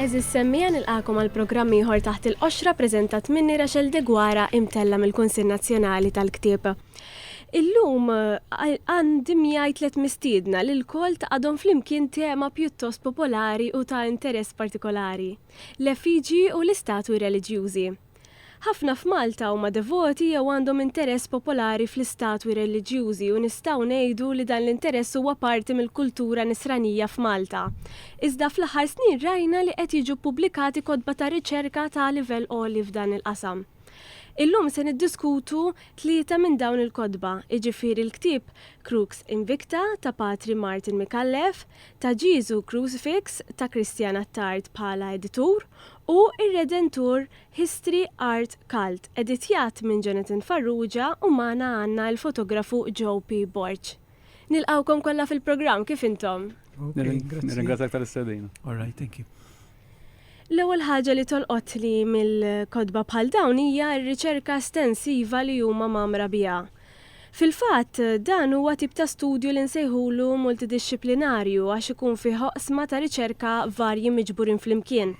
Għeżież semmiegħa nilqagħkom għal programm ieħor Taħt il-Qoxra ppreżentat minni Rachel Deguara imtella' mill-Kunsill Nazzjonali tal-Ktieb. Illum għandi miegħi tliet mistiedna li lkoll taqgħadhom flimkien tema pjuttost popolari u ta' interess partikolari, l-efiġji u l-istatwi reliġjużi. Ħafna f'Malta huma devoti jew għandhom interess popolari fl-istatwi reliġjużi u nistgħu ngħidu li dan l-interess huwa parti mill-kultura nisranija f'Malta. Iżda fl-aħħar snin rajna li qed jiġu ppubblikati kotba ta' riċerka ta' livell għoli f'dan il-qasam. Illum se niddiskutu tlieta minn dawn il-kotba, jiġifieri l-ktieb Crux Invicta ta' Patri Martin Micallef, ta' Ġieżu Crucifix ta' Christian Attard bħala editur, u r-Redentur History Art Cult, editjat minn Jonathan Farrugia u magħna għandna l-fotografu Joe P. Borg. Nilqgħukom kollha fil-programm, kif intom? Nirringrazzjak tal-istedina. All right, thank you. L-ewwel ħaġa li tolqotli mill-kotba bħal dawn hija r-riċerka estensiva li huma mgħammra biha. Fil-fatt, dan huwa tip ta' studju li nsejħulu multidixxiplinarju għax ikun fih oqsma ta' riċerka varji miġburin flimkien.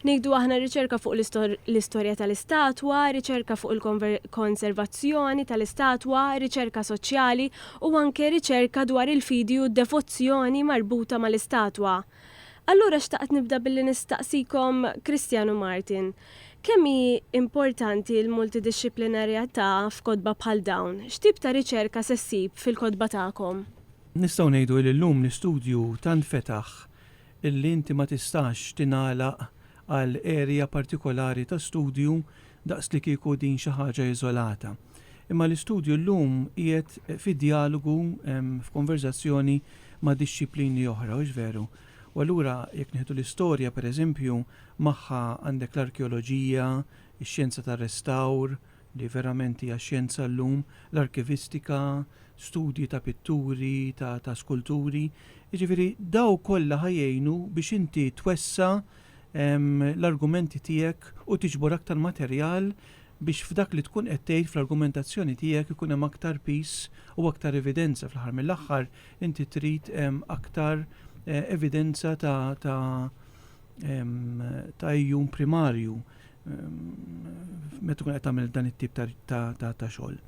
Nieħdu aħna riċerka fuq l-istorja tal-istatwa, riċerka fuq il-konservazzjoni tal-istatwa, riċerka soċjali u anke riċerka dwar il-fidi u d-devozzjoni marbuta mal-istatwa. Allura xtaqt nibda billi nistaqsikom Christian u Martin, kemm hi importanti l-multidixxiplinarjatà f'kotba bħal dawn? X'tip ta' riċerka se ssib fil-kotba tagħkom? Nistgħu ngħidu li llum l-istudju tant fetaħ li inti ma tistax tingħalaq għal area partikolari ta' studju daqslikieku din xi ħaġa iżolata. Imma l-istudju llum qiegħed fi djalogu, f'konverżazzjoni ma' dixxiplini oħra, hux veru? U allura jekk nieħdu l-istorja, per eżempju, magħha għandek l-arkeoloġija, ix-xjenza tar-restawr, li verament hija xjenza llum, l-arkivistika, studji ta' pitturi, ta' skulturi, jiġifieri daw kollha ħa jgħinu biex inti twessa' l-argumenti tiegħek u tiġbor aktar materjal biex f'dak li tkun qed tgħid fl-argumentazzjoni tiegħek ikun hemm aktar piż u aktar evidenza. Fl-aħħar mill-aħħar inti trid aktar evidenza ta' ta' ta' ejjun primarju meta tkun qed tagħmel dan it-tip ta' xogħol.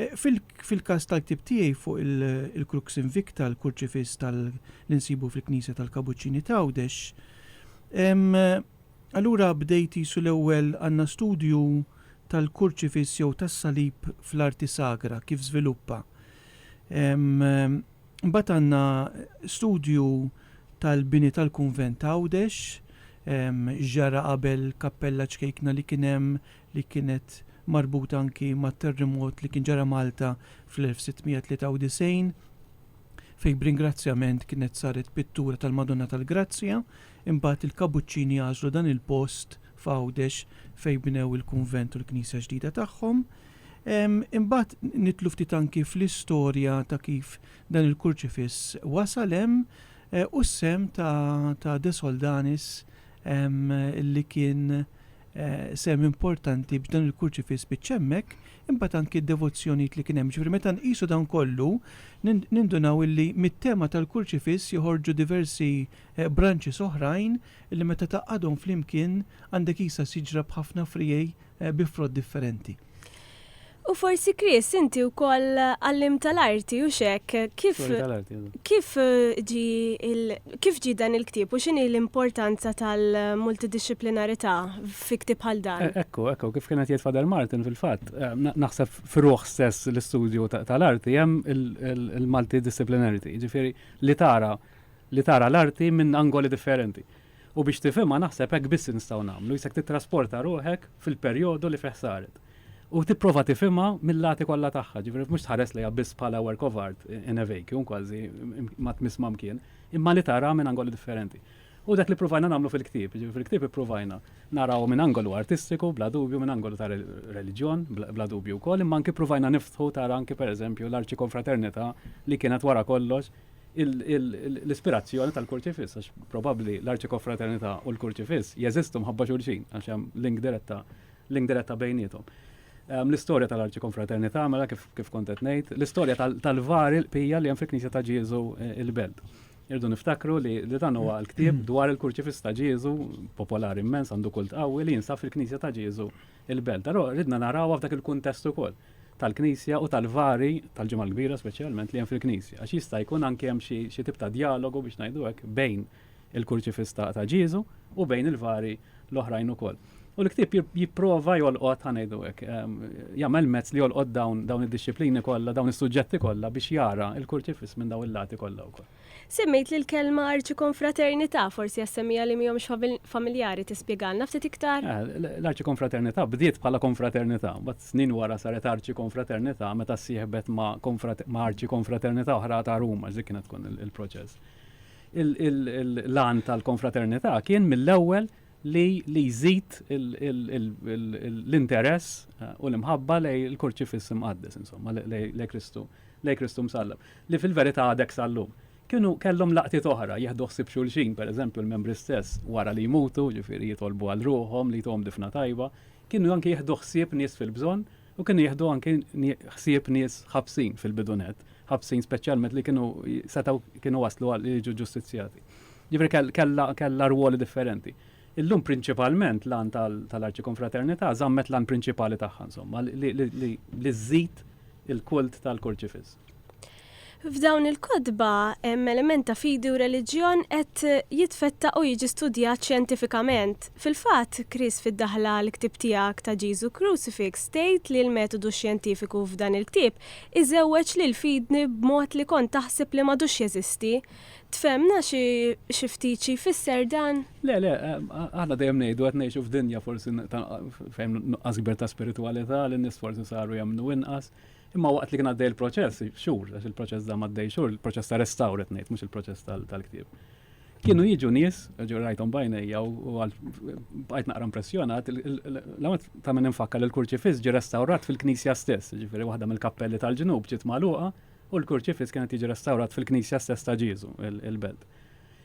Fil-każ tal-ktieb tiegħi fuq il-Crux Invicta, l-kurċifiss li nsibu fil-knisja tal-Kabuċċini t'Għawdex, allura bdejt qisu l-ewwel għandna studju tal-kurċifiss jew tas-salib fl-arti sagra, kif żviluppa. Mbagħad għandna studju tal-bini tal-kunvent t'Għawdex, x'ġara qabel kappella ċkejkna li kien hemm, li kienet marbuta anki mat-terrimot li kien ġara Malta fl-1693, fejn b'ringrazzjament kienet saret pittura tal-Madonna tal-Grazzja, imbagħad il-Kabuċċini għażlu dan il-post f'Għawdex fejn bnew il-kunvent u l-knisja ġdida tagħhom. Imbagħad nidħlu ftit anki fl-istorja ta' kif dan il-kurċifiss wasal hemm u s-sehem ta' De Soldanis li kien sehem importanti biex dan il-kurċifiss spiċċa hemmhekk, imbagħad anki d-devozzjonijiet li kien hemm. Jiġifieri meta nqisu dan kollu nindunaw illi mit-tema tal-kurċifiss joħorġu diversi branches oħrajn illi meta tgħaqqadhom flimkien għandek qisha siġra b'ħafna friegħi bi frott differenti. U forsi Chris, inti wkoll għallim tal-arti u xek, kif kif ġi kif ġi dan il-ktieb u x'inhi l-importanza tal-multidixxiplinarità fi ktieb bħal dan? Ekku, ekku, kif kienet jgħid Fader Martin fil-fatt, naħseb f'ruħ stess l-istudju tal-arti hemm il-multidisciplinarity, ġifieri li tara li tara l-arti minn angoli differenti. U biex tifhimha naħseb hekk biss nistgħu nagħmlu, jisek titrasporta ruħek fil-perjodu li fih saret. u tipprova tifhimha mil-lati kollha tagħha, ġifieri mhux tħares lejha biss bħala work of art in a vacuum kważi ma tmiss ma mkien, imma li taraha minn angoli differenti. Hu dak li ppruvajna nagħmlu fil-ktieb, jiġifieri fil-ktieb ippruvajna narawha minn angolu artistiku, bla dubju, minn angolu ta' reliġjon, bla dubju wkoll, imma anki ppruvajna niftħu tara anki pereżempju l-arċikonfraternità li kienet wara kollox l-ispirazzjoni tal-kurċifiss, għax probabbli l-arċikonfraternità u l-kurċifiss jeżistu mħabba xulxin, għax hemm link diretta link diretta bejnietom. Ehm, l-istorja tal-arċi konfraternità, mela kif, kif kontet nejt, l-istorja tal-var il-pija li jem fil-knisja ta' Ġieżu eh, il-belt. Irdu niftakru li, li dan huwa l-ktib dwar il-kurċifis ta' Ġieżu, popolari immens għandu kult qawwi li jinsab fil-knisja ta' Ġieżu il-belt. Però ridna narawha f'dak il-kuntest ukoll tal-knisja u tal-vari tal-ġimgħa l-kbira speċjalment li hemm fil-knisja. Għax jista' jkun anke hemm xi tip ta' dialogu biex ngħidu hekk bejn il-kurċifiss ta' ta' Ġieżu u bejn il-vari l-oħrajn ukoll. U l-ktieb jipprova jolqot ħa ngħidu hekk, jagħmel mezz li jolqot dawn dawn id-dixxiplini kollha, dawn is-suġġetti kollha biex jara l-kurċifiss minn dawn il-lati kollha wkoll. Semmejt li l-kelma arċikonfraternità, forsi għas-semmiegħa li mhomx familjari tispjegalna ftit iktar? L-arċikonfraternità bdiet bħala konfraternità, mbagħad snin wara saret arċikonfraternità meta ssieħbet ma' arċikonfraternità oħra ta' Ruma, dik kienet tkun il-proċess. Il-lan tal-konfraternità kien mill-ewwel li li jżid l-interess eh, u l-imħabba lej il-kurċifiss imqaddes, insomma, lej Kristu, lej Kristu msallab, li fil-verità għadek sallum. Kienu kellhom laqtiet oħra, jieħdu ħsib xulxin, per eżempju, l-membri stess, wara li jmutu, ġifiri jitolbu għal ruħom, li jtom difna tajba, kienu anki jieħdu ħsieb nies fil-bżonn, U kienu jieħdu anki ħsieb nies ħabsin fil-bidu nett, ħabsin speċjalment li kienu setgħu kienu waslu għal jiġu ġustizzjati. Ġifieri kellha kellha rwoli differenti. Illum prinċipalment l-għan tal-arċikonfraternità żammet l-għan prinċipali tagħha insomma li żżid il-kult tal-kurċifiss. F'dawn il-kotba hemm element ta' fidi u reliġjon qed jitfettaq u jiġi studjat xjentifikament. Fil-fatt, Chris fid-daħla għall-ktieb tiegħek ta' Ġesu Crucifix tgħid li l-metodu xjentifiku f'dan il-ktieb iżewweġ lil fidni b'mod li kont taħseb li m'għadux jeżisti. Tfehmna xi ftit xi jfisser dan? Le, le, aħna dejjem ngħidu qed ngħixu f'dinja forsi fejn hemm nuqqas kbir ta' spiritwalità, li n-nies forsi saru jemmnu inqas. Imma waqt li kien għaddej il-proċess, xhur, għax il-proċess da għaddej xhur, il-proċess ta' restawr qed ngħid, mhux il-proċess tal-ktieb. Kienu jiġu nies, ġew rajthom bajnejja u bqajt naqra impressjonat, l-għamet ta' minn infakka li l-kurċifiss ġi restawrat fil-knisja stess, ġifieri waħda mill-kappelli tal-ġnub ġiet magħluqa u l-kurċifiss kienet jiġi restawrat fil-knisja stess ta' Ġieżu, il-belt.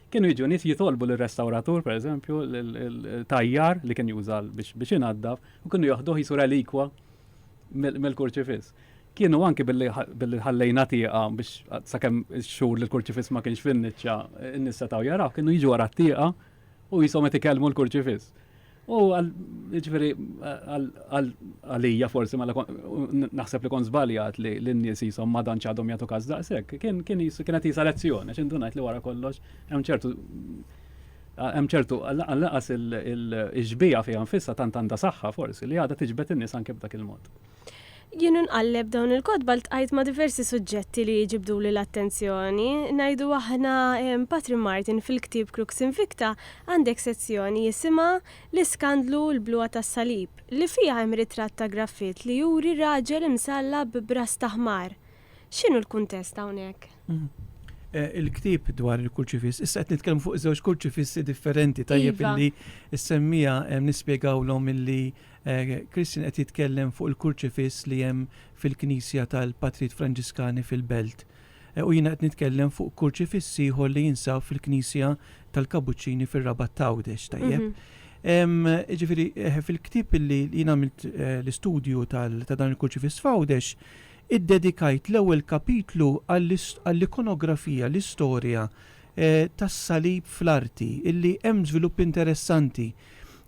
Kienu jiġu nies jitolbu l-restawratur, per eżempju, l-tajjar li kien jużal biex inaddaf, u kienu joħduh jisu relikwa mill-kurċifiss. Kienu anki billi ħallejna tieqa biex sakemm ix-xhur li l-kurċifiss ma kienx fin-niċċa n-nies setgħu jaraw, kienu jiġu wara t-tieqa u jisom qed ikellmu l-kurċifiss. U ġifieri għalija forsi mela naħseb li kont żbaljat li n-nies jisom ma dan ċadhom jagħtu każ daqshekk. Kien kienet jisa lezzjoni, għax indunajt li wara kollox hemm ċertu Hemm ċertu, lanqas il-xbieha fiha nfisha tant għandha saħħa forsi li għadha tiġbed in-nies anke b'dak il-mod. Jien u nqalleb dawn il-kotba ltqajt ma' diversi suġġetti li ġibduli l-attenzjoni. Ngħidu aħna Patri Martin fil-ktieb Crux Invicta għandek sezzjoni jisimha L-Iskandlu u l-Bluha tas-Salib, li fiha hemm ritratt ta' graffitt li juri raġel imsallab b'ras ta' ħmar. X'inhu l-kuntest hawnhekk? Mhm. Eh, il-ktib dwar il-kurċifiss, issa qed nitkellmu fuq żewġ kurċifissi differenti tajjeb iva. illi s-semmija eh, nispjegawlhom illi Kristin eh, qed jitkellem fuq il-kurċifiss li hemm fil-Knisja tal-Patrit Franġiskani fil-Belt. U jiena qed nitkellem fuq kurċifiss ieħor li jinsab fil-Knisja tal-Kabuċċini fir-Rabat Tawdex tajjeb. Mhm. Ġifiri, eh, fil-ktib li jina għamilt eh, l-istudju ta' dan il-kurċifis fawdex, Iddedikajt l-ewwel kapitlu għall-ikonografija, l-istorja, tas-salib fl-arti, illi hemm żvilupp interessanti,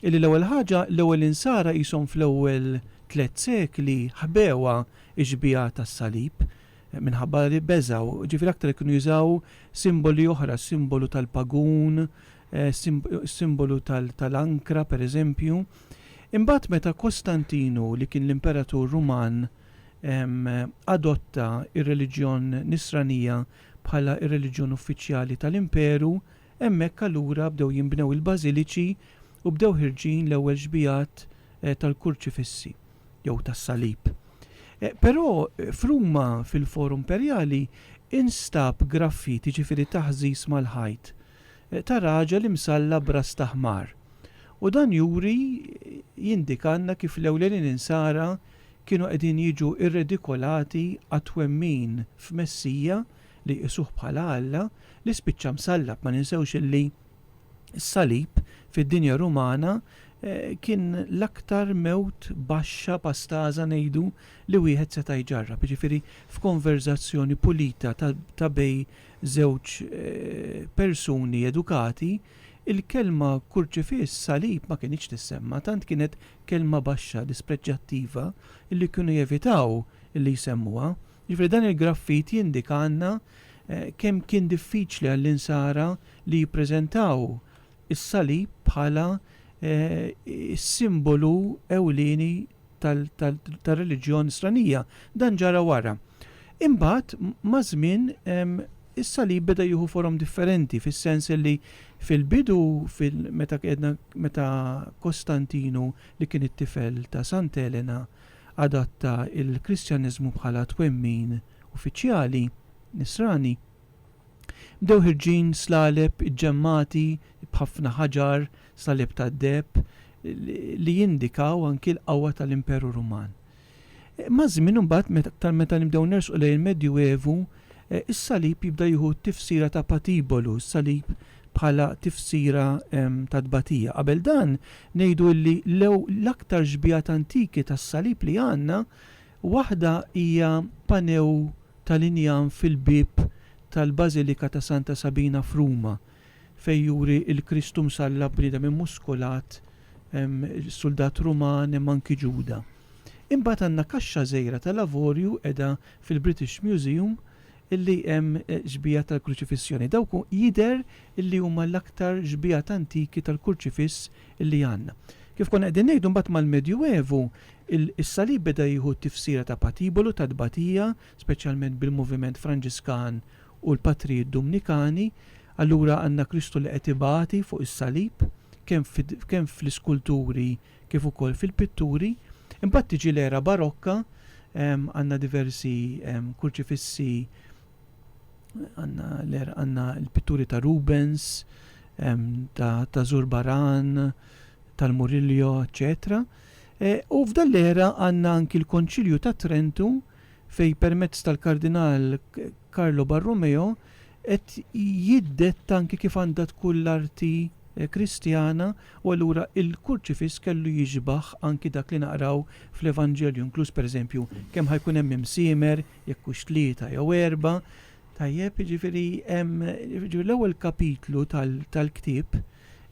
illi l-ewwel ħaġa, l-ewwel Insara qishom fl-ewwel tliet sekli ħbewha x-xbieha tas-salib, minħabba li beżgħu, ġifieri aktar li kienu jużaw simboli oħra, s-simbolu tal-pagun, is-simbolu tal-ankra, pereżempju. Imbagħad meta Kostantinu, li kien l-imperatur Ruman, adotta r-reliġjon Nisranija bħala r-reliġjon uffiċjali tal-imperu, hemmhekk allura bdew jinbnew il-bażiliċi u bdew ħirġin l-ewwel xbigħat tal-kurċifissi jew tas-salib. Però f'Ruma fil-Forum Imperjali instab graffit, jiġifieri taħżiż mal-ħajt, ta' raġel imsalla b'ras ta' ħmar. U dan juri, jindikalna kif l-ewlenin insara kienu qegħdin jiġu rredikolati għat-twemmin f'Messija li jqisuh bħala Alla li spiċċa msallab. Ma ninsewx illi s-salib fid-dinja Rumana kien l-aktar mewt baxxa, pastaża ngħidu, li wieħed seta' jġarrab, jiġifieri f'konverżazzjoni pulita ta' bejn żewġ persuni edukati, Il-kelma kurċifiss, salib, ma kinitx tissemma, tant kienet kelma baxxa, dispreġġjattiva, illi kienu jevitaw illi jsemmuha. Jiġifieri dan il-graffit jindika għandna kemm kien diffiċli għall-Insara li jippreżentaw is-salib bħala s-simbolu ewlieni tar-reliġjon stranija. Dan ġara wara. Imbagħad maż-żmien is-salib beda jieħu forom differenti fis-sens li fil-bidu meta qiegħdna meta Kostantinu li kien it-tifel ta' Sant Elena adatta l-Kristjaniżmu bħala twemmin uffiċjali Nisrani, Bdew ħirġin slaleb iġġemmati b'ħafna ħaġar, slaleb tad-deheb, li jindikaw anki l-qawwa tal-Imperu Ruman. Maż-żmien imbagħad, aktar meta nibdew nersqu lejn il-Medju Evu, is-salib jibda jieħu t-tifsira ta' patibolu, is-salib bħala tifsira ta' tbatija. Qabel dan, ngħidu li l-aktar xbiehat antiki tas-salib li għandna Waħda hija panew tal-injam fil-bieb tal-Bażilika ta' Santa Sabina f'Ruma, fejn juri l-Kristu msallab bniedem immuskolat, suldat Ruman, hemm anki Ġuda. Imbagħad għandna kaxxa żgħira tal-avorju qiegħda fil-British Museum li hemm xbieha tal-Kruċifissjoni. Dawk jidher li huma l-aktar xbiehat antiki tal-Kurċifiss li għandna. Kif konna qegħdin ngħidu mbagħad mal-Medjuevu is-salib beda jieħu t-tifsira ta' patibolu, ta' tbatija, speċjalment bil-moviment Franġiskan u l-patrijiet Dumnikani. Allura għandna Kristu li qed ibati fuq is-salib kemm fl-iskulturi kif ukoll fil-pitturi. Imbagħad tiġi l-era Barokka, għandna diversi kurċifissi Għanna l-er għanna l-pitturi ta' Rubens, ta' Zurbaran, tal-Murillo, eccetera. E, u f'dan l-era għanna anki l-Konċilju ta' Trentu fej permezz tal-Kardinal Carlo Barromeo qed jiddet anki kif għandha tkun l-arti e, Kristjana u allura il-kurċifiss kellu jiġbaħ anki dak li naqraw fl-Evanġelju, inkluż pereżempju kemm ħajkun hemm imsiemer, jekk hux tlieta jew erba', tajjeb, jiġifieri hemm, jiġifieri l-ewwel kapitlu tal-ktieb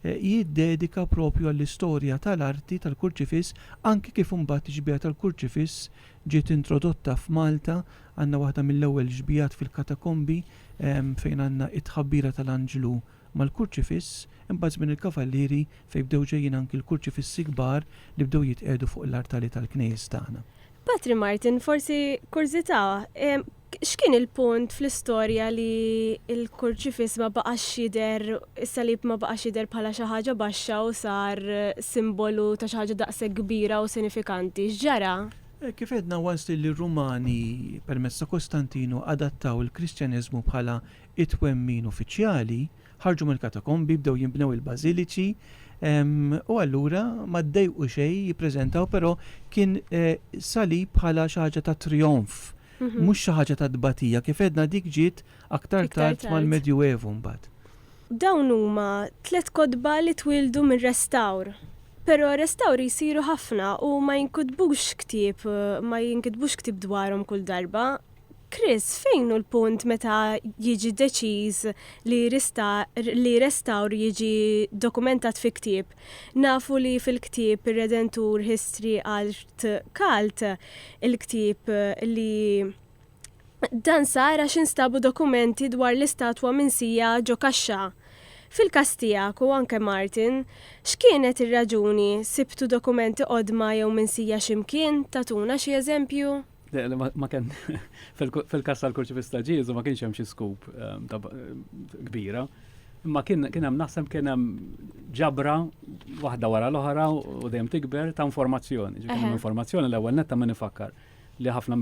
jiddedika propju għall-istorja tal-arti tal-kurċifiss anki kif imbagħad ix-xbieha tal-kurċifiss ġiet introdotta f'Malta, għandna waħda mill-ewwel xbiehat fil-katakombi fejn għandna t-tħabbira tal-anġlu, mal-kurċifiss, imbagħad żmien il-Kavallieri fejn bdew ġejjin anki l-kurċifissi kbar li bdew jitqiegħdu fuq l-artali tal-knejjes tagħna. Patri Martin, forsi kurżità, x'kien il-punt fl-istorja li l-kurċifiss ma baqax jidher, is-salib ma baqax jidher bħala xi ħaġa baxxa u sar simbolu ta' xi ħaġa daqshekk kbira u sinifikanti? X'ġara? Kif għedna, once li r-Rumani permezz ta' Kostantinu adattaw il-Kristjaneżmu bħala it-twemmin uffiċjali, ħarġu mill-katakombi, bdew jinbnew il-bażiliċi, u allura ma ddejqu xejn jippreżentaw, però kien salib bħala xi ħaġa ta' trijonf, mhux xi ħaġa ta' tbatija. Kif għedna dik ġiet aktar tard mal-Medjuevu mbagħad. Dawn huma tliet kotba li twieldu minn restawr. Però restawri jsiru ħafna u ma jinkutbux ktieb, ma jinkitbux ktieb dwarhom kull darba. Chris, fejn hu l-punt meta jiġi deċiż li rista, li restawr jiġi dokumentat fi ktieb? Nafu li fil-ktieb Ir-Redentur History Art Cult, il-ktieb li dan sar għax instabu dokumenti dwar l-istatwa minsija ġo kaxxa. Fil-każ tiegħek u anke Martin, x'kienet ir-raġuni, sibtu dokumenti qodma jew minsija xi mkien, tagħtuna xi eżempju? Ma kien fil-kas tal-kurċi pistaġizu ma kienx hemm xi skup ehm, kbira. Imma kien hemm naħseb kien hemm ġabra waħda wara l-oħra u dejjem tikber ta' informazzjoni. Ġifieri informazzjoni l-ewwel netta minn ifakkar li ħafna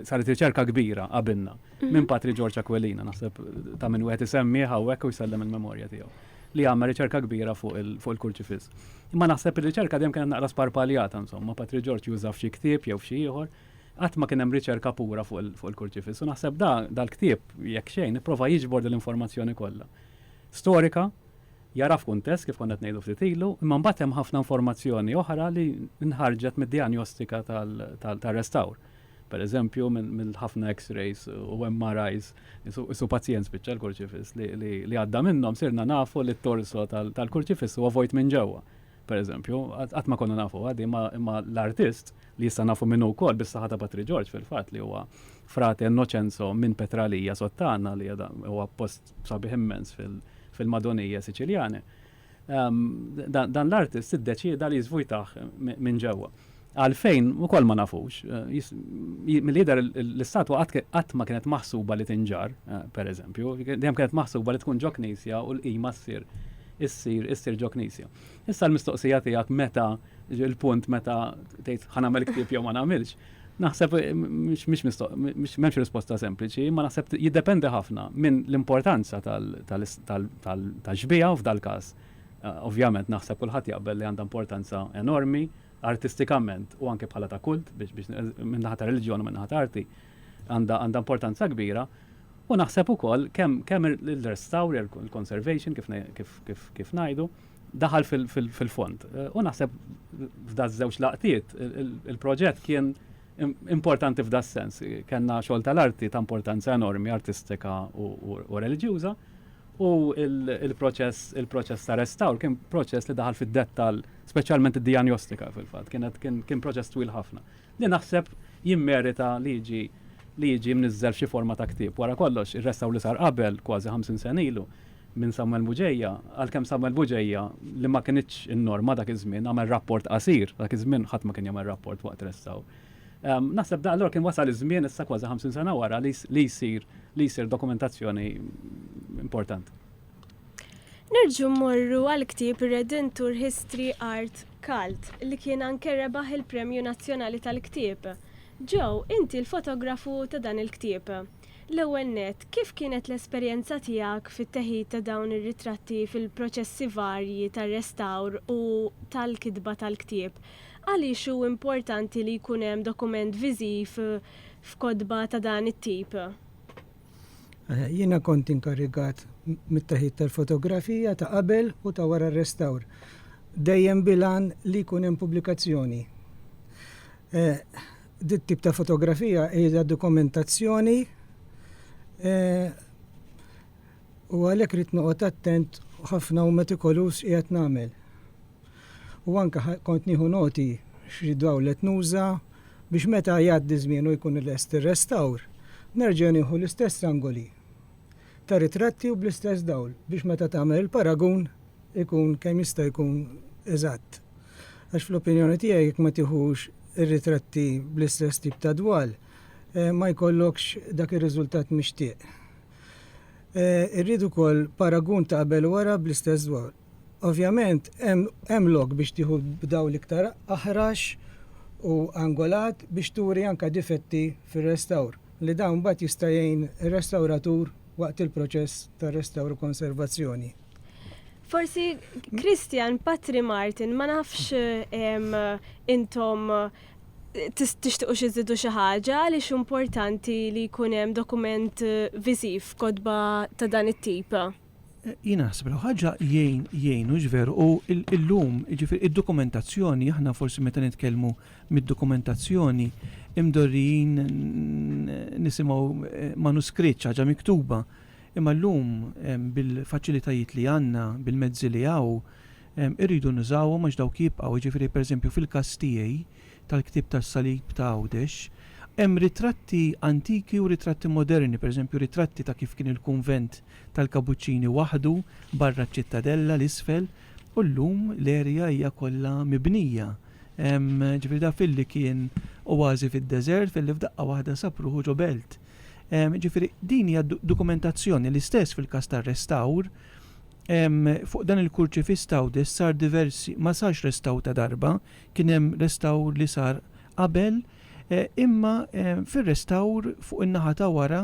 saret riċerka kbira qabilna mhm. minn Patri Ġorġ Aquilina naħseb ta' minn wieħed isemmi hawnhekk u jsellem il-memorja tiegħu. li għamel riċerka kbira fuq il-kurċifiss. Imma naħseb ir-riċerka dejjem kienet naqra sparpaljata insomma, Patri Ġorġ juża f'xi ktieb jew f'xi ieħor, qatt ma kien hemm riċerka pura fuq il-kurċifiss. U naħseb da dal-ktieb jekk xejn ipprova jiġbor din l-informazzjoni kollha. Storika, jara f'kuntest kif konna qed ngħidu ftit ilu, imma mbagħad hemm ħafna informazzjoni oħra li nħarġet mid-dijanjostika tar-restawr. Per eżempju, minn ħafna X-rays u MRIs, isu pazjent spiċċa l-kurċifiss, li għadda minnhom sirna nafu li t-torso tal-kurċifiss huwa vojt minn ġewwa. Per eżempju, qatt ma konna nafu għadi, imma l-artist li issa nafu minnu wkoll bis-saħħa ta' Patri Ġorġ fil-fatt li huwa frate Innoċenzo minn Petralija Sottana li huwa post sabiħ immens fil-Madonije Siċiljani. dan l-artist iddeċieda li jiżvujtah minn ġewwa. Għalfejn ukoll ma nafux. Mill-jidher l-istatwa qatt ma kienet maħsuba li tinġarr, pereżempju, dejjem kienet maħsuba li tkun ġo knisja u l-qima ssir issir issir ġo knisja. Issa l-mistoqsija tiegħek meta Il-punt meta tgħid ħa nagħmel ktieb jew ma nagħmilx, naħseb m'hemmx risposta sempliċi, imma naħseb jiddependi ħafna minn l-importanza tal-xbieha f'dal-każ. Ovvjament naħseb kulħadd jaqbel li għandha importanza enormi artistikament u anke bħala ta' kult biex minn naħa ta' reliġjon u minn naħa ta' arti għandha importanza kbira u naħseb ukoll kemm ir-restawr, il-conservation kif ngħidu, daħal fil-fond. U naħseb f'da żewġ laqtiet il-proġett kien importanti f'da sens. Kenna xogħol tal-arti ta' importanza enormi, artistika u reliġjuża, u il-proċess il-proċess ta' restawr kien proċess li daħal fid-dettal, speċjalment id-dijanjostika fil-fatt, kienet kien proċess twil ħafna. Li naħseb jimmerita li jiġi li jiġi mniżżel f'xi forma ta' ktieb. Wara kollox, ir-restawr li sar qabel kważi 50 sena ilu, minn Samwel Buġeja, għalkemm Samwel Buġeja, li ma kinitx in-norma dak iż-żmien, għamel rapport qasir, dak iż-żmien ħadd ma kien jagħmel rapport waqt restawr. Naħseb da allura kien wasal iż-żmien issa kważi 50 sena wara li li jsir li jsir dokumentazzjoni importanti. Nerġgħu mmorru għall-ktieb Redentur History Art Cult li kien anke rebaħ il-Premju Nazzjonali tal-Ktieb. Joe, inti l-fotografu ta' dan il-ktieb. L-ewwel nett, kif kienet l-esperjenza tiegħek fit-teħid ta' dawn ir-ritratti fil-proċessi varji tar-restawr u tal-kitba tal-ktieb? Għaliex hu importanti li jkun hemm dokument viżiv f'kotba ta' dan it-tip? Jiena kont inkarigat mit-teħid tal-fotografija ta' qabel u ta' wara r-restawr, dejjem bil-għan li jkun hemm pubblikazzjoni. Dit tip ta' fotografija hija dokumentazzjoni eh, u għalhekk rrid noqgħod attent ħafna u metikolus qiegħed nagħmel. U anke kont nieħu noti xi dawl qed nuża biex meta jgħaddi żmien u jkun lest ir-restawr, nerġa' nieħu l-istess angoli. ta' ritratti u bl-istess dawl biex meta tagħmel il-paragun ikun kemm jista' jkun eżatt. Għax fl-opinjoni tiegħi jekk ma tieħux ir-ritratti bl-istess tip ta' dwal ma jkollokx dak ir-riżultat mixtieq. Irrid ukoll paragun ta' qabel u wara bl-istess dwal. Ovvjament hemm lok biex tieħu b'dawl iktar aħrax u angolat biex turi anke difetti fir-restawr, li dan mbagħad jista' jgħin ir-restawratur waqt il-proċess ta' restawr u konservazzjoni. Forsi Christian, Patri Martin, ma nafx intom tixtiqu xi żidu xi ħaġa għaliex importanti li jkun hemm dokument viżiv f'kotba ta' dan it-tip. Jien naħseb li ħaġa jgħin jgħin hux veru u illum jiġifieri id-dokumentazzjoni aħna forsi meta nitkellmu mid-dokumentazzjoni imdorrijin nisimgħu eh, manuskritt ħaġa miktuba. Imma llum bil-faċilitajiet li għandna, bil-mezzi li hawn, irridu nużawhom għax dawk jibqgħu, jiġifieri pereżempju fil-każ tiegħi tal-ktieb tas-salib ta' Għawdex, hemm ritratti antiki u ritratti moderni, pereżempju ritratti ta' kif kien il-kunvent tal-Kapuċċini waħdu barra ċ-Ċittadella, 'l isfel, u llum l-erja hija kollha mibnija. Ġifieri da filli kien oażi fid-deżert, filli f'daqqa waħda sab ruħu ġo belt. Ġifieri din hija dokumentazzjoni. L-istess fil-każ tar-restawr, fuq dan il-kurċifiss t'Għawdex sar diversi, ma sarx restawr ta' darba, kien hemm restawr li sar qabel, imma fir-restawr fuq in-naħa ta' wara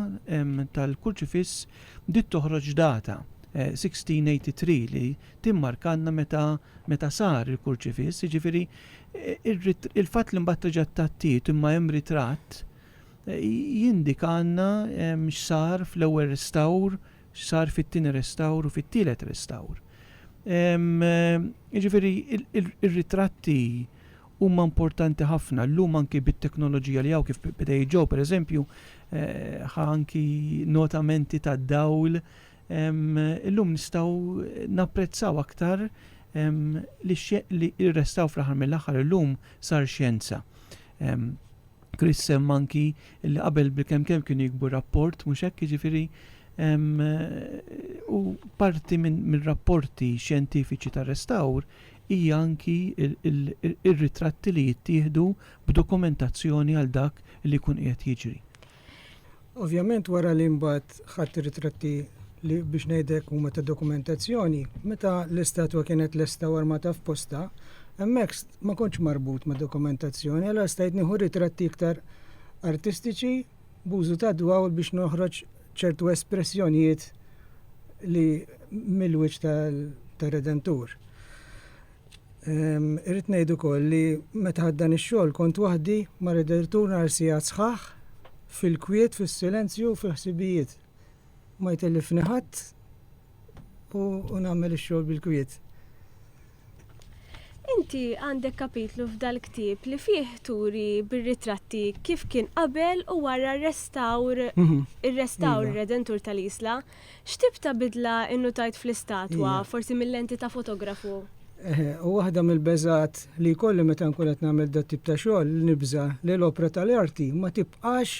tal-Kurċifiss bdiet toħroġ data, 1683, li timmarkalna meta meta sar il-Kurċifiss, jiġifieri il-fatt li mbagħad reġgħet tgħattiet imma hemm ritratt jindikalna x'sar fl-ewwel restawr, x'sar fit-tieni restawr u fit-tielet restawr. Jiġifieri r-ritratti huma importanti ħafna llum anki bit-teknoloġija li hawn kif beda jiġġew pereżempju ħa anki notamenti tad-dawl illum nistgħu napprezzaw aktar li r-restawr fl-aħħar mill-aħħar illum sar xjenza. Chris semma anki li qabel bil-kemm kemm kienu jikbu rapport mhux hekk jiġifieri u parti mir-rapporti xjentifiċi tar-restawr hija anki r-ritratti li jittieħdu b'dokumentazzjoni għal dak li jkun qiegħed jiġri. Ovvjament wara li mbagħad ħadt ir-ritratti li biex ngħidlek huma ta' dokumentazzjoni, meta l-istatwa kienet lesta u armata f'posta, hemmhekk ma kontx marbut ma' dokumentazzjoni, allora stajt nieħu ritratti iktar artistiċi b'użu tad-dwawl biex noħroġ ċertu espressjonijiet li mill-wiċċ tar-Redentur. Ehm, irrid ngħid ukoll li meta ħaddan ix-xogħol kont waħdi ma' Redentur nhar sigħat sħaħ fil-kwiet, fis-silenzju, fil-ħsibijiet. Ma jtellifni ħadd u nagħmel ix-xogħol bil-kwiet. Inti għandek kapitlu f'dal-ktieb li fih turi bir-ritratti kif kien qabel u wara r-restawr mhm. ir-restawr iva. redentur tal-isla. X'tib ta' bidla innutajt fl-istatwa, iva. forsi mill-lenti ta' fotografu? U waħda mill-beżat li kolli meta nkun qed nagħmel dat tip ta' xogħol li nibża li l-opra tal-arti ma tibqax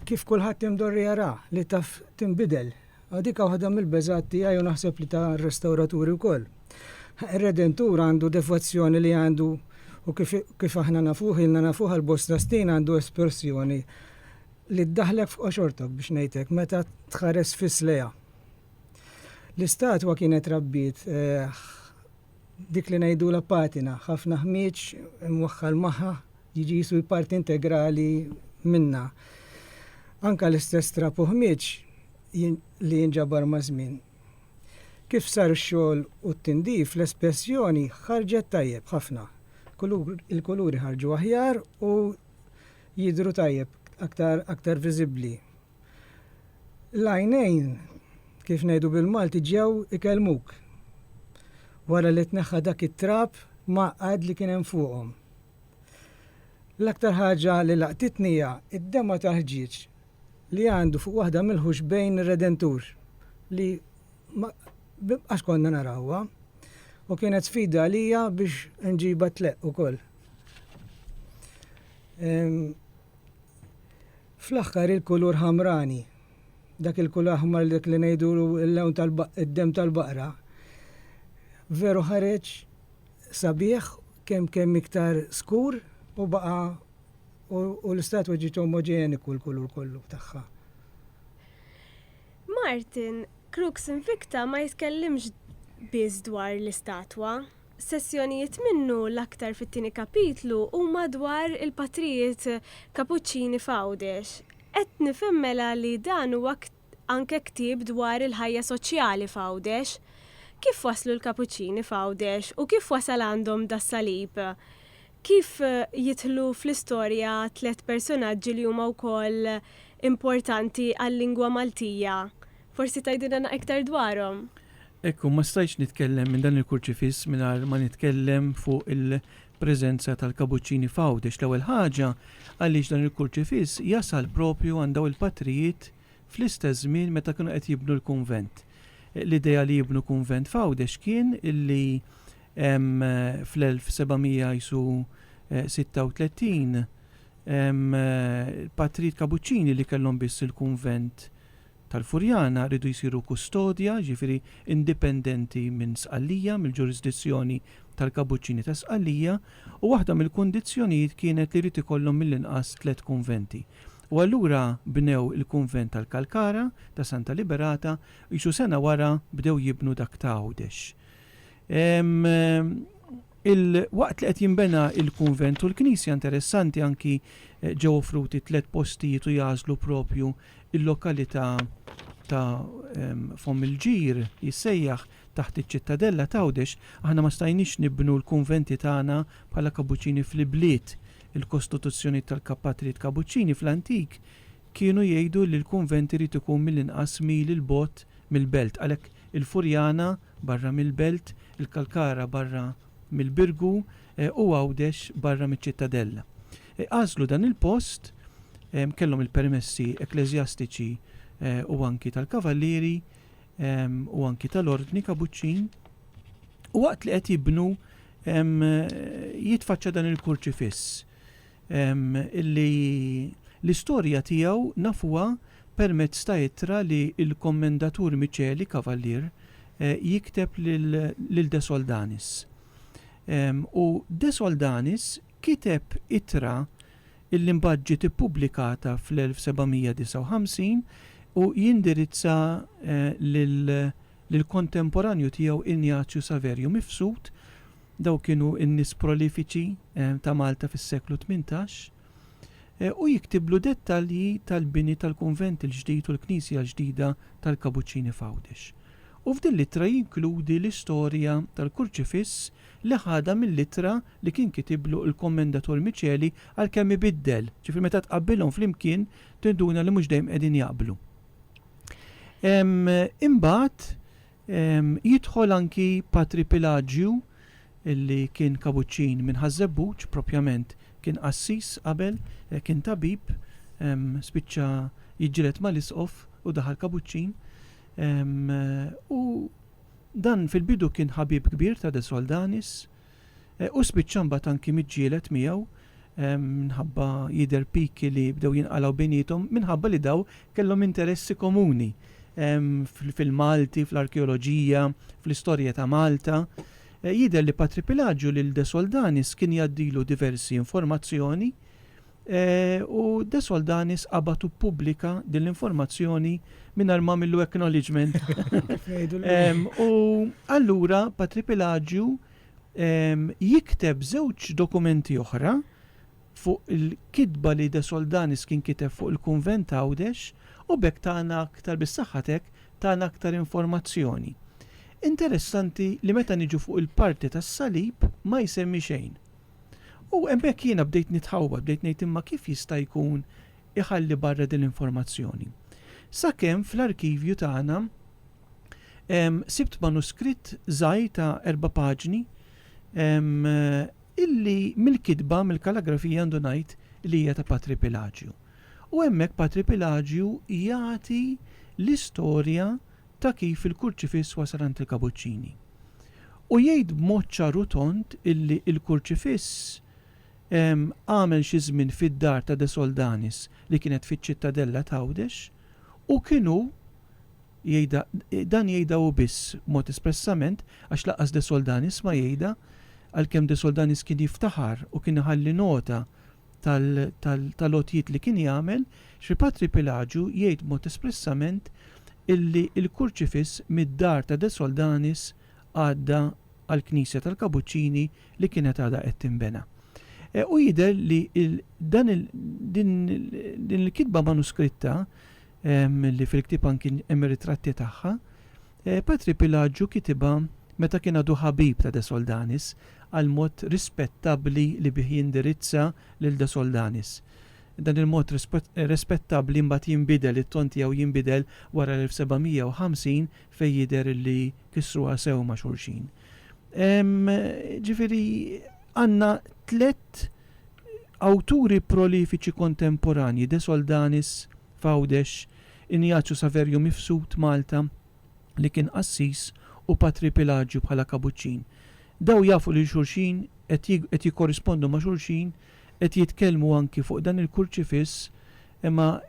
kif kulħadd imdorri jara li taf tinbidel A Dik waħda mill-beżgħat tiegħi u naħseb li ta' r-restawraturi wkoll. Ir-Redentur għandu devozzjoni li għandu u kif kif aħna nafuh ilna nafuh għal bosta snin għandu espressjoni li ddaħħlek f'qoxortok biex ngħid hekk meta tħares fis lejha. L-istatwa kienet rabbiet Dik li ngħidulha patina, ħafna ħmieġ imwaħħal magħha, jiġi qisu parti integrali minnha. Anke l-istess trab u ħmieġ li jinġabar maż-żmien. Kif sar ix-xogħol u t-tindif, l-espressjoni ħarġet tajjeb ħafna. Il-kuluri ħarġu aħjar u jidhru tajjeb, aktar viżibbli. L-għajnejn, kif ngħidu bil-Malti, ġew ikellmuk. Wara li tneħħa dak it-trab mgħaqqad li kien hemm fuqhom. L-aktar ħaġa li laqtitni hija d-dema' ta' ħġieġ li għandu fuq waħda mill-ħuxbejn ir-Redentur li ma qax konna narawha u kienet sfida għalija biex nġibha tleqq ukoll. Fl-aħħar il-kulur ħamrani, dak il-kulur aħmar li dak li ngħidulu l-lewn tal-baqq id-demm tal-baqra, veru ħareġ sabiħ kemm kemm iktar skur u baqa' u l-istatwa ġiet omoġeniku l-kulur kollu tagħha. Martin, Crux Invicta ma jitkellimx biss dwar l-istatwa. Sezzjonijiet minnu l-aktar fit-tieni kapitlu huma dwar il-patrijiet Kapuċċini f'Għawdex. Qed nifhem mela li dan huwa anke ktieb dwar il-ħajja soċjali f'Għawdex. Kif waslu l-Kapuċċini f'Għawdex u kif wasal għandhom das-salib? Kif jidħlu fl-istorja tliet persunaġġi li huma wkoll importanti għal-lingwa Maltija Forsi tgħidilna na iktar dwarhom? Ekku, ma stajtx nitkellem minn dan il-kurċifiss mingħajr ma nitkellem fuq il-preżenza tal-kabuċċini f'Għawdex. L-ewwel ħaġa, għaliex dan il-kurċifiss jasal proprju għand dawn il-patrijiet fl-istess żmien meta kienu qed jibnu l-kunvent. L-idea li jibnu kunvent f'Għawdex kien li fl-1736 il-patrijiet kabuċċini li kellhom biss il-kunvent tal-Furjana riedu jsiru kustodja, jiġifieri indipendenti minn Sqallija, mill-ġurisdizzjoni tal-Kabuċċini ta' Sqallija, u waħda mill-kundizzjonijiet kienet li jrid ikollhom mill-inqas tliet kunventi. U allura bnew il-kunvent tal-Kalkara, ta' Santa Liberata, qisu sena wara bdew jibnu dak ta' Għawdex. Il-waqt li qed jinbena il-kunvent u l-knisja interessanti anki ġew offruti tliet postijiet u jagħżlu propju il-lokalità ta' Fomm il-Ġir jissejjaħ taħt iċ-Ċittadella t'Għawdex. Aħna ma stajniex nibnu l-kunventi tagħna bħala Kabuċċini fl-ibliet. Il-kostituzzjonijiet tal-kapatrijiet Kabuċċini fl-antik kienu jgħidu li l-kunvent irid ikun mill-inqas mil 'il bogħod mill-belt. Għalhekk il-Furjana, barra mill-Belt, il-Kalkara barra mill-Birgu u Għawdex barra miċ-Ċittadella. Għażlu dan il-post, kellhom il-permessi ekkleżjastiċi u anki tal-Kavallieri u anki tal-Ordni Kabuċċin, u waqt li qed jibnu jitfaċċa dan il-kurċifiss. li l-istorja tiegħu nafuha permezz ta' ittra li l-Kommendatur Miceli, Kavallier, jikteb lil De Soldanis. U De Soldanis kiteb ittra li mbagħad ġiet ippubblikata fl-1759 u jindirizza lill-kontemporanju tiegħu Ignazju Saverju Mifsud, Dawk kienu n-nies prolifiċi ta' Malta fis-seklu tmintax. U jiktiblu dettalji tal-bini tal-kunvent il-ġdid u l-knisja l-ġdida tal-Kabuċċini f'Għawdex. U f'din l-ittra jinkludi l-istorja tal-kurċifiss li ħadha mill-ittra li kien kitiblu il-Kommendatur Miceli għalkemm ibiddel, ġifieri meta tqabbilhom flimkien tinduna li mhux dejjem qegħdin jaqblu. Imbagħad, Jidħol anki Patri Pilaġju li kien kabuċċin minn Ħaż-Żebbuġ, propjament kien qassis qabel, kien tabib, spiċċa jiġġieled mal-isqof u daħal kabuċċin. U dan fil-bidu kien ħabib kbir ta' De Soldanis. Hu spiċċa mbagħad anki miġġieled miegħu minħabba jidher piki li bdew jinqalgħu bejniethom minħabba li dawn kellhom interessi komuni fil-Malti, fl-arkeoloġija, fl-istorja ta' Malta. Jidher li Patri Pilaġju lil De Soldanis kien jgħaddilu diversi informazzjoni U De Soldanis qabad u ppubblika din l-informazzjoni mingħajr ma għamillu acknowledgement. U allura Patripilagju jikteb żewġ dokumenti oħra fuq il-kitba li De Soldanis kien kiteb fuq il-kunvent ta' Għawdex u b'hekk tana aktar bis-saħħatek tana aktar informazzjoni. Interessanti li meta niġu fuq il-parti tas-salib ma jsemmi xejn. U hemmhekk jiena bdejt nitħawwad, bdejt ngħid imma kif jista' jkun iħalli barra din l-informazzjoni. Sakemm fl-arkivju tagħna sibt manuskritt żgħir ta' erba' paġni illi mill-kitba, mill-kalagrafija għandu ngħid li hija ta' Patri Pilaġju. U hemmhekk Patri Pilaġju jagħti l-istorja ta' kif il-Kurċifiss wasal għand il-Kabuċċini. U jgħid b'mod ċar u tond illi l-Kurċifiss għamel xi żmien fid-dar ta' De Soldanis li kienet fiċ-Ċittadella t'Għawdex u kien hu jgħidha dan jgħidha hu biss b'mod espressament għax lanqas De Soldanis ma jgħidha għalkemm De Soldanis kien jiftaħar u kien iħalli nota tal-għotjiet li kien jagħmel, xi patri Pilaġu jgħid b'mod espressament illi l-kurċifiss mid-dar ta' De Soldanis għadda għall-knisja tal-Kabuċċini li kienet għadha qed tinbena. U jidher li din il-kitba manuskritta li fil-ktieb anki hemm ir-ritratti tagħha, Patri Pilaġġu kitibha meta kien għadu ħabib ta' De Soldanis għall-mod rispettabbli li bih jindirizza lil De Soldanis. Dan il-mod respettabbli mbagħad jinbidel, it-ton tiegħu jinbidel wara l-1750 fejn jidher li kissruha sew ma' xulxin. Ġifieri għandna tliet awturi prolifiċi kontemporanji, De Soldanis, f'Għawdex, Injaċu Saverju Mifsud, Malta, li kien qassis, u Patri Pilaġju bħala kabuċċin. Daw jafu lil xulxin, qed qed jikkorrispondu ma' xulxin, qed jitkellmu anki fuq dan il-kurċifiss, imma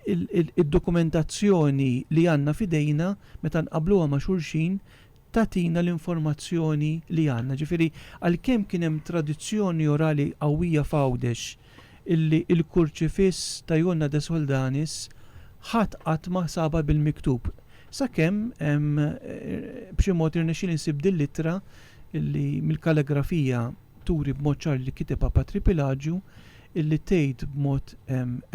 id-dokumentazzjoni li għandna f'idejna, meta nqabbluha ma' xulxin, tagħtina l-informazzjoni li għandna. Ġifieri, għalkemm kien hemm tradizzjoni orali qawwija f'Għawdex illi l-Kurċifiss ta' Jonna de Soldanis ħadd qatt ma sabha bil-miktub. Sakemm b'xi mod irnexxieli nsib din l-ittra illi mill-kalligrafija turi b'mod ċar li kitibha Patri Pilaġju illi tgħid b'mod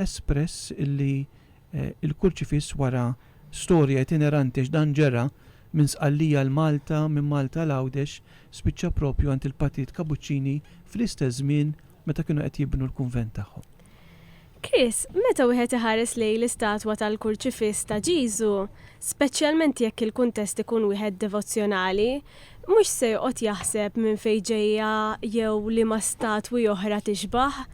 espress illi il-kurċifiss wara storja itineranti għax dan ġera minn Sqallija l-Malta, minn Malta l-Għawdex, spiċċa proprju għand il-Patrijiet Kabuċċini fl-istess żmien meta kienu qed jibnu l-kunvent tagħhom. Chris, meta wieħed iħares lejn l-istatwa tal-kurċifiss ta' Ġieżu, speċjalment jekk il-kuntest ikun wieħed devozzjonali, mhux se joqgħod jaħseb minn fejn ġejja jew liema statwi oħra tixbah.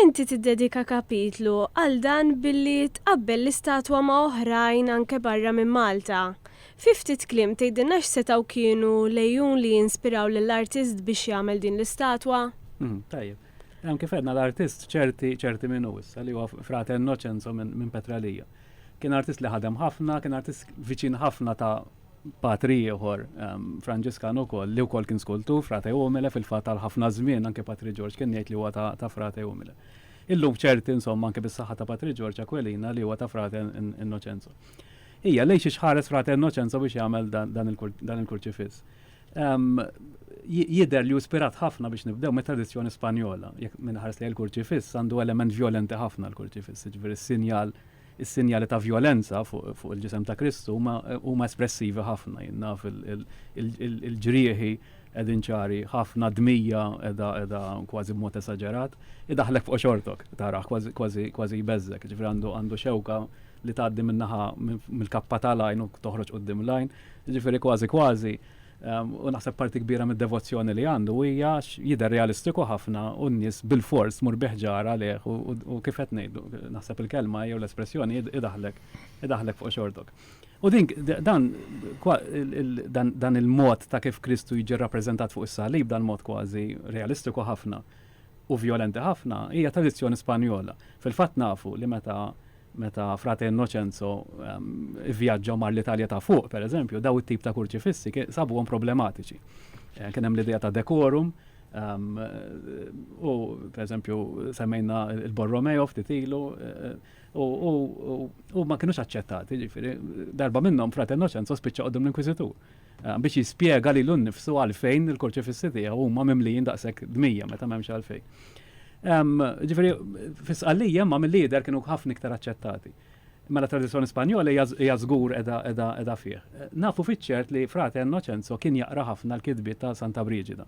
Inti tiddedika kapitlu għal dan billi tqabbel l-istatwa ma' oħrajn anke barra minn Malta. Fi ftit kliem tgħidilna x'setgħu kienu l-għejun li inspiraw lill-artist biex jagħmel din l-istatwa? Tajjeb. Hemm kif għedna l-artist ċerti ċerti min hu issa li huwa frate Innocenzo minn Petralija. Kien artist li ħadem ħafna, kien artist viċin ħafna ta' patri ieħor Franġiskan ukoll li wkoll kien skultur frate umile fil-fatt għal ħafna żmien anke Patri Ġorġ kien jgħid li huwa ta', ta frate umile. Illum ċerti insomma anke bis-saħħa ta' Patri Ġorġ Aquilina li huwa ta' frate Innoċenzo. Hija lejn xi ħares frate Innoċenzo biex jagħmel dan il-kurċifiss. Jidher li hu spirat ħafna biex nibdew mit-tradizzjoni Spanjola, jekk minn ħares li l-kurċifiss għandu element vjolenti ħafna l-kurċifiss, jiġifieri s-sinjal Is-sinjali ta' vjolenza fuq il-ġisem ta' Kristu huma espressivi ħafna, jien naf, il-ġrieħi qegħdin ċari ħafna, d-dmija qiegħda kważi b'mod esaġerat, idaħħlek f'qoxortok tarah, kważi jbeżżgħek, jiġifieri għandu xewka li tgħaddi min-naħa mill-kappa tal-għajn u toħroġ quddiem l-għajn, jiġifieri kważi kważi. U naħseb parti kbira mid-devozzjoni li għandu hija jidher realistiku ħafna u n-nies bilfors tmur bi ħġar għalih u kif qed ngħidu, naħseb il-kelma jew l-espressjoni idaħlek idaħlek fuq xortok. U din dan dan il-mod ta' kif Kristu jiġi rappreżentat fuq is-salib dan mod kważi realistiku ħafna u vjolenti ħafna hija tradizzjoni Spanjola. Fil-fatt nafu li meta Meta Frate Innocenzo vvjaġġa u mar l-Italja ta' Fuq, pereżempju, dawn it-tip ta' kurċifissi sabuhom problematiċi. Kien hemm l-idea ta' decorum, u pereżempju semmejna l-Borromeo ftit ilu, u ma kinux aċċettati, jiġifieri darba minnhom Frate Innocenzo spiċċa quddiem l-Inkwiżitur. biex jispjega lilu nnifsu għalfejn il-kurċifissi tiegħu huma mimlijin daqshekk dmija meta m'hemmx għalfejn. Ġifieri fis-Sqallija imma mill-lider kienu ħafna iktar aċċettati. Mela tradizzjoni Spanjola hija żgur qiegħda fih. Nafu fiċ-ċert li frate Innoċenzo kien jaqra ħafna l-kitbiet ta' Santa Briġida.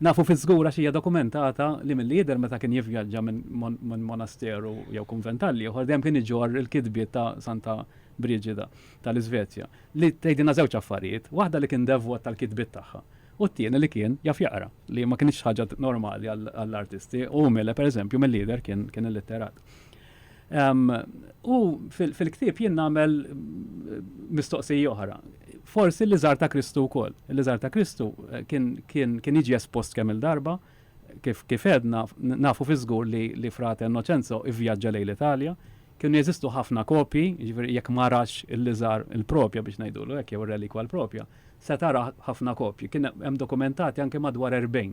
Nafu fiż-żgur għax hija dokumentata li mill-lider meta kien jivvjaġġa minn monasteru jew kunvent għall-ieħor dejjem kien iġorr il-kitbiet ta' Santa Briġida tal-Iżvezja. li tgħidilna żewġ affarijiet, waħda li kien devwot tal-kitbiet tagħha u t-tieni li kien jaf jaqra, li ma kinitx ħaġa normali għall-artisti u Mille pereżempju mill-jidher kien illitterat. U fil-ktieb jien nagħmel mistoqsija oħra. Forsi li żar ta' Kristu wkoll. Li żar ta' Kristu eh, kien jiġi espost kemm il-darba, kif edna nafu fi żgur li frate Innoċenzo ivvjaġġa lejn l-Italja, Kienu jeżistu ħafna kopji, jiġifieri jekk ma ratx il-liżar il-propja biex ngħidulu hekk jew ir-relikwa l-propja, se tara ħafna kopji. Kien hemm dokumentati anke madwar 40.